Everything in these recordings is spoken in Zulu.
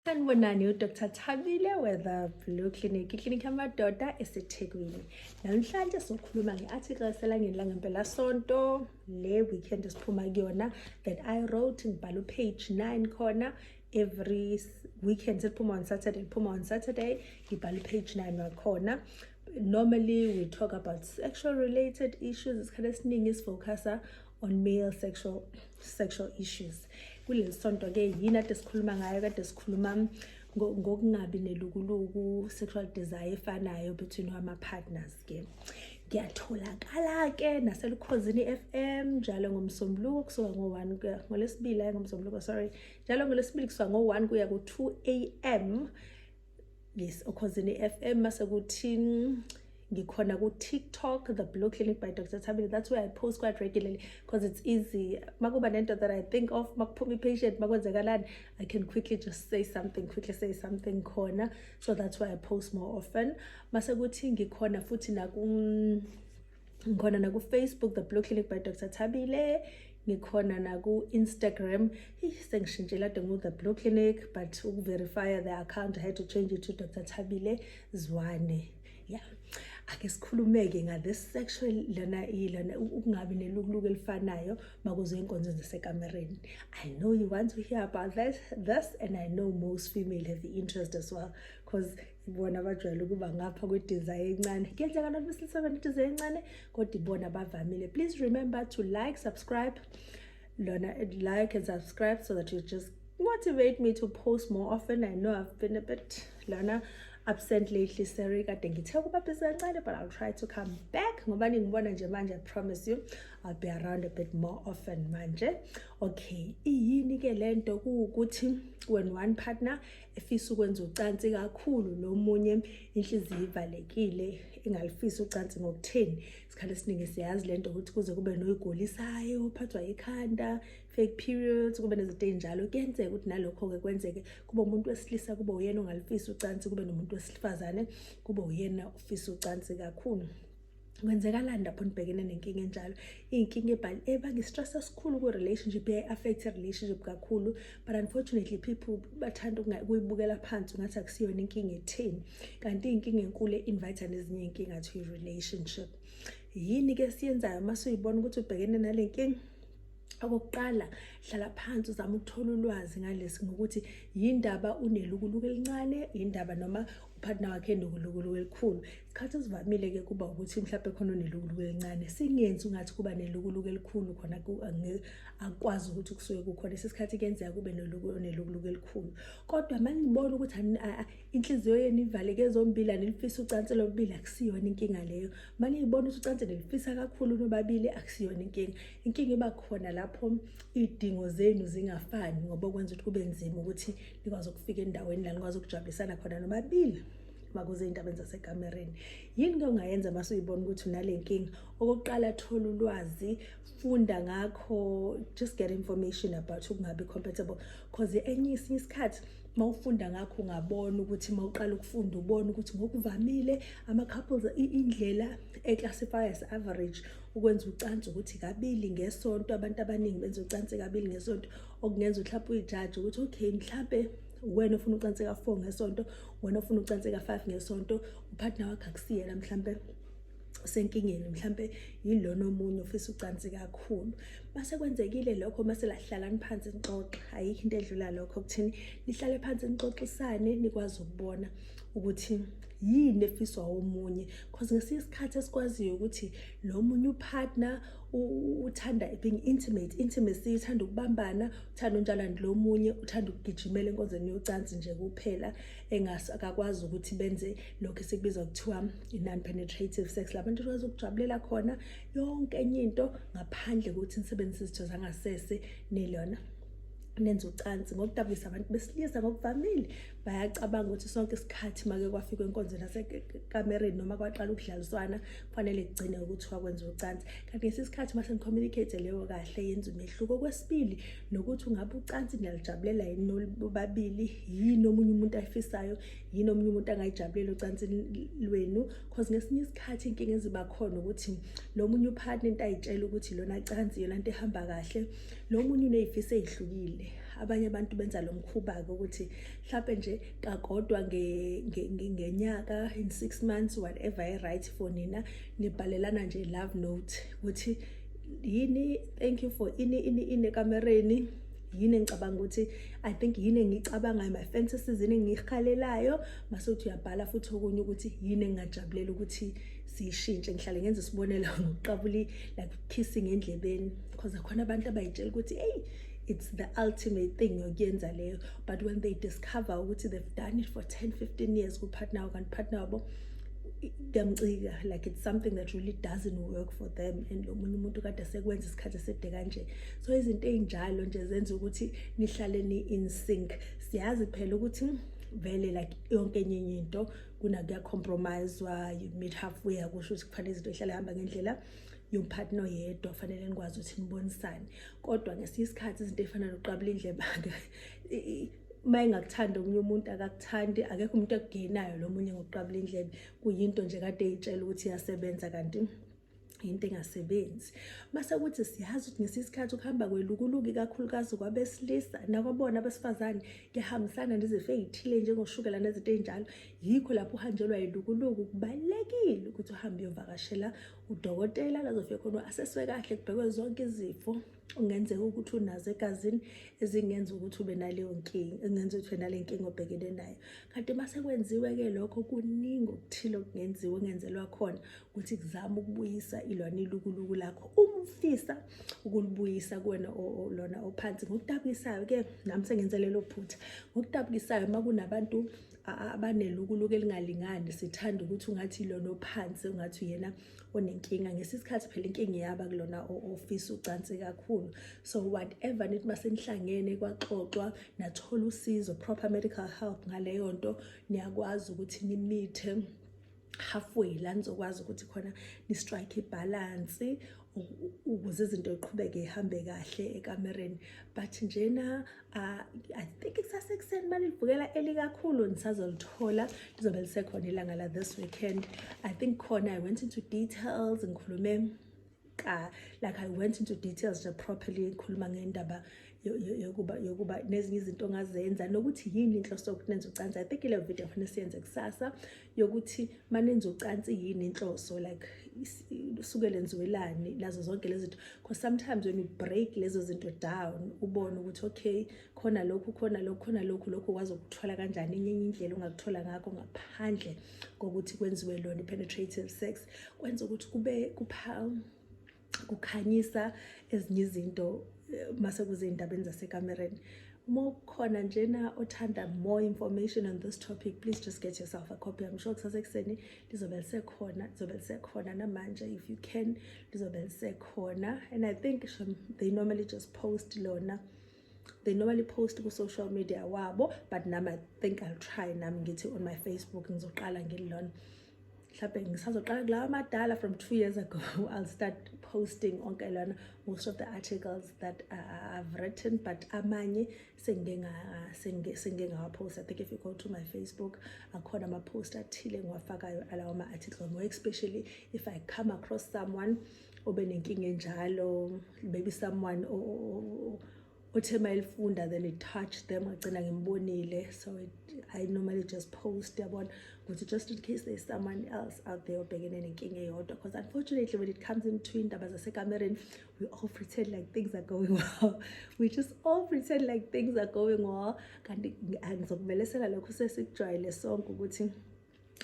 Sanibonani uDr Thabile weThe Blue Clinic, iklinikhi yamadoda eseThekwini. Namhlanje sokhuluma nge-article eselangeni langempelasonto le weekend esiphuma kuyona that I wrote ngibhala upage 9 khona every weekend siphuma on Saturday, liphuma on Saturday, ngibhala upage 9 wakhona. Normally we talk about sexual related issues, isikhathi esiningi sifocusa on male sexual sexual issues kuleli sonto ke yini ade sikhuluma ngayo kade sikhuluma ngokungabi nelukuluku sexual desire efanayo between ama partners ke ngiyatholakala ke naselukhozini FM njalo ngomsombuluko kusuka ngo-1 kuya ngolesibili ayi ngomsombuluko sorry njalo ngolesibili kusuka ngo-1 kuya ku-2 am yes okhozini FM mase kuthi ngikhona ku TikTok the blue clinic by Dr Thabile that's where I post quite regularly because it's easy makuba nento that I think of makuphuma ipatient makwenzekalani I can quickly just say something quickly say something khona so that's why I post more often mase kuthi ngikhona futhi naku ngikhona nakufacebook the blue clinic by dr thabile ngikhona naku-instagram sengishintshela ade ngu-the blue clinic but ukuverifya the account i had to change it to dr thabile zwane ya ake sikhulumeke nga-this sexual lana ilana ukungabi nelukuluku elifanayo makuze inkonzo zasekamereni i know you want to hear about that this and i know most female have the interest as well because bona bajwayele ukuba ngapha kwediza encane kuyenzeka noma silisebenzisa idiza encane kodwa ibona bavamile please remember to like subscribe lona like and subscribe so that you just motivate me to post more often i know i've been a bit lona absent lately sorry kade ngithe ukuba busy kancane but i'll try to come back ngoba ningibona nje manje i promise you i'll be around a bit more often manje okay iyini ke lento ukuthi when one partner efisa ukwenza ucansi kakhulu nomunye inhliziyo ivalekile ingalifisa ucansi ngokutheni isikhathi esiningi siyazi le nto ukuthi kuze kube noyigolisayo uphathwa ikhanda fake periods kube nezinto ey'njalo kuyenzeka ukuthi nalokho-ke kwenzeke kube umuntu wesilisa kube uyena ongalifisa ucansi kube nomuntu wesifazane kube uyena ofisa ucansi kakhulu kwenzeka lani lapho nibhekene nenkinga enjalo iy'nkinga ebhali ebanga i-stress esikhulu kwi-relationship i-affect i-relationship kakhulu but unfortunately people bathanda ukuyibukela phansi ungathi akusiyona inkinga etheni kanti iy'nkinga enkulu e-invite nezinye iy'nkinga to i-relationship yini-ke siyenzayo uma suyibona ukuthi ubhekene nale nkinga okokuqala hlala phansi uzama ukuthola ulwazi ngalesi ngokuthi yindaba unelukuluku elincane yindaba noma uphathina wakhe endukulukulu elikhulu isikhathi esivamile-ke kuba ukuthi mhlawumbe khona onelukuluku elincane singenzi ungathi kuba nelukuluku elikhulu khona akwazi ukuthi kusuke kukhona isikhathi kuyenzeka kube nelukuluku elikhulu kodwa uma nibona ukuthi inhliziyo yenu ivaleke zombili anilifisa ucansi lobubili akusiyona inkinga leyo uma niyibona ukuthi ucansi nilifisa kakhulu nobabili akusiyona inkinga inkinga iba khona lapho iy'dingo zenu zingafani ngoba okwenza ukuthi kube nzima ukuthi nikwazi ukufika endaweni la nikwazi ukujabulisana khona nobabili makuze ey'ndabeni zasekamereni yini ke ongayenza uma suyibona ukuthi unale nkinga okokuqala thola ulwazi funda ngakho just get information about ukungabi compatible because enye isinye isikhathi uma ufunda ngakho ungabona ukuthi uma uqala ukufunda ubona ukuthi ngokuvamile ama-couples indlela e-classify as average ukwenza ucansi ukuthi kabili ngesonto abantu abaningi benza ucansi kabili ngesonto okungenza uhlaphe uyijaji ukuthi okay mhlampe wena ofuna ucansi ka-four ngesonto wena ofuna ucansi ka-five ngesonto uphathina wakho akusiyena mhlampe usenkingeni mhlampe yilona omunye ofisa ucansi kakhulu mase kwenzekile lokho mase lahlalani phansi nixoxe ayikho into edlula lokho kuthini nihlale phansi nixoxisane nikwazi ukubona ukuthi yini efiswa omunye cause ngesinye isikhathi esikwaziyo ukuthi lo munye upartner uthanda being intimate intimacy uthanda ukubambana uthanda unjalani lo munye uthanda ukugijimela enkonzweni yocansi nje kuphela engasakakwazi ukuthi benze lokho esikubiza kuthiwa i-non penetrative sex labantu kwazi ukujabulela khona yonke enye into ngaphandle kokuthi nisebenzise izitho zangasese nilona nenza ucansi ngokudabukisa abantu besilisa ngokuvamile bayacabanga ukuthi sonke isikhathi make kwafika inkonzo nasekamereni noma kwaqala ukudlaliswana kufanele kugcine ukuthiwa kwenza ucansi kanti ngesi sikhathi uma senicommunicate leyo kahle yenza umehluko okwesibili nokuthi ungabe ucansi niyalijabulela yini nobabili yini omunye umuntu ayifisayo yini omunye umuntu angayijabulela ucansi lwenu because ngesinye isikhathi inkinga eziba khona ukuthi lo munye upartner into ayitshela ukuthi lona cansi yona nto ehamba kahle lo munye uney'fiso ey'hlukile abanye abantu benza lo mkhuba-ke ukuthi mhlawumpe nje kakodwa ngenyaka nge, nge in six months whatever i-right for nina nibhalelana nje love note ukuthi yini thank you for ini ini ini ekamereni yini engicabanga ukuthi i think yini engicabangayo my fantasies yini engiyikhalelayo mase uthi uyabhala futhi okunye ukuthi yini engingajabulela ukuthi siyishintshe ngihlale ngenza isibonelo ngokuqabuli like kissing endlebeni because akhona abantu abayitshela ukuthi eyi it's the ultimate thing yokuyenza leyo but when they discover ukuthi they've done it for 10 15 years kupartner wabo kanti partner wabo kuyamcika like it's something that really doesn't work for them and lo munye umuntu kade sekwenza isikhathi eside kanje so izinto ey'njalo nje zenza ukuthi nihlale ni-in sync siyazi phela ukuthi vele like yonke enye enye into kunakuyacompromiswa you meet halfway akusho ukuthi kufanele izinto ihlale hamba ngendlela yomphathi noyedwa kufanele nikwazi ukuthi nibonisane kodwa ngesinye isikhathi izinto ey'fana nokuqabula indlebake uma engakuthandi omunye umuntu akakuthandi akekho umuntu ekugenayo lo munye ngokuqabula indlebe kuyinto nje kade eyitshela ukuthi iyasebenza kanti into engasebenzi mase kuthi siyazi ukuthi ngesisikhathi ukuhamba kwelukuluki kakhulukazi kwabesilisa nakwabona abesifazane kuyahambisana nezifo ey'thile njengoshukela nezinto ey'njalo yikho lapho uhanjelwa yilukuluku kubalulekile ukuthi uhambe uyovakashela udokotela lazofike khona aseswe kahle kubhekwe zonke izifo ungenzeka ukuthi unazo egazini ezingenza ukuthi ube naleyo nkinga engenza ukuthi nale nkinga obhekene nayo kanti uma sekwenziwe-ke lokho kuningi okuthile okungenziwa okungenzelwa khona ukuthi kuzame ukubuyisa ilona ilukuluku lakho uma ufisa ukulibuyisa kuwena lona ophansi ngokutabukisayo-ke nami sengenze lelo phutha ngokutabukisayo uma kunabantu abanelukuluku elingalingani sithanda ukuthi ungathi lona ophansi ungathi uyena onenkinga ngesikhathi phela inkinga iyaba kulona ofisa ucansi kakhulu so whatever nithi masenihlangene kwaxoxwa nathola usizo proper medical help ngaleyo nto niyakwazi ukuthi nimithe halfway la nizokwazi ukuthi khona ni-strike ibhalansi ukuze izinto iqhubeke ihambe kahle ekamereni but njena uh, i think kusasekuseni uma livukela elikakhulu nisazolithola lizobe lisekhona ilanga la this weekend i think khona i went into details ngikhulume ka like i went into details nje properly ngikhuluma ngendaba yokuba yokuba nezinye izinto ongazenza nokuthi yini inhloso yokuthi nenze ucansi i think ile video kufanele siyenze kusasa yokuthi uma nenze ucansi yini inhloso like usuke lenziwelani lazo zonke lezi zinto because sometimes when you break lezo zinto down ubone ukuthi okay khona lokhu khona lokhu khona lokhu lokhu wazi ukuthola kanjani enye indlela ongakuthola ngakho ngaphandle kokuthi kwenziwe lona i-penetrative sex kwenza ukuthi kube kupha kukhanyisa ezinye izinto eh, mase kuzey'ndabeni zasekamereni uma ukhona njena othanda more information on this topic please just get yourself a copy i'm sure kusasekuseni lizobe lisekhona lizobe lisekhona namanje if you can lizobe lisekhona and i think they normally just post lona they normally post ku-social media wabo but nami i think i'll try nami ngithi on my facebook ngizoqala ngililona mhlawumbe ngisazoqala kulawa amadala from two years ago i'll start posting onke lona most of the articles that uh, i've written but amanye sengike ngawapost i think if you go to my facebook akhona amapost athile ngiwafakayo alawo ma-article more especially if i come across someone obe nenkinga enjalo maybe someone othe uma elifunda then it touched them agcina ngimbonile so it, i normally just post yabona ukuthi just in case there's someone else out there obhekene nenkinga eyodwa because unfortunately when it comes into indaba zasekamereni we all pretend like things are going well we just all pretend like things are going well kanti angizokumelesela lokho sesikujwayele sonke ukuthi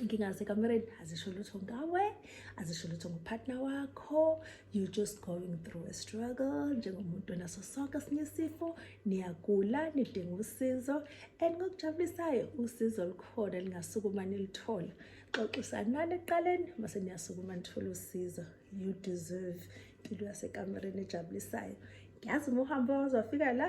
inkinga zasekamereni azisho lutho ngawe azisho lutho ngopartner wakho you just going through a struggle njengomuntu onaso sonke sinye isifo niyagula nidinga usizo and ngokujabulisayo usizo olukhona lingasukuma nilithola xoxisanani ekuqaleni mase niyasukuma nithole usizo you deserve impilo yasekamereni ejabulisayo ngiyazi uma uhamba wazwafika la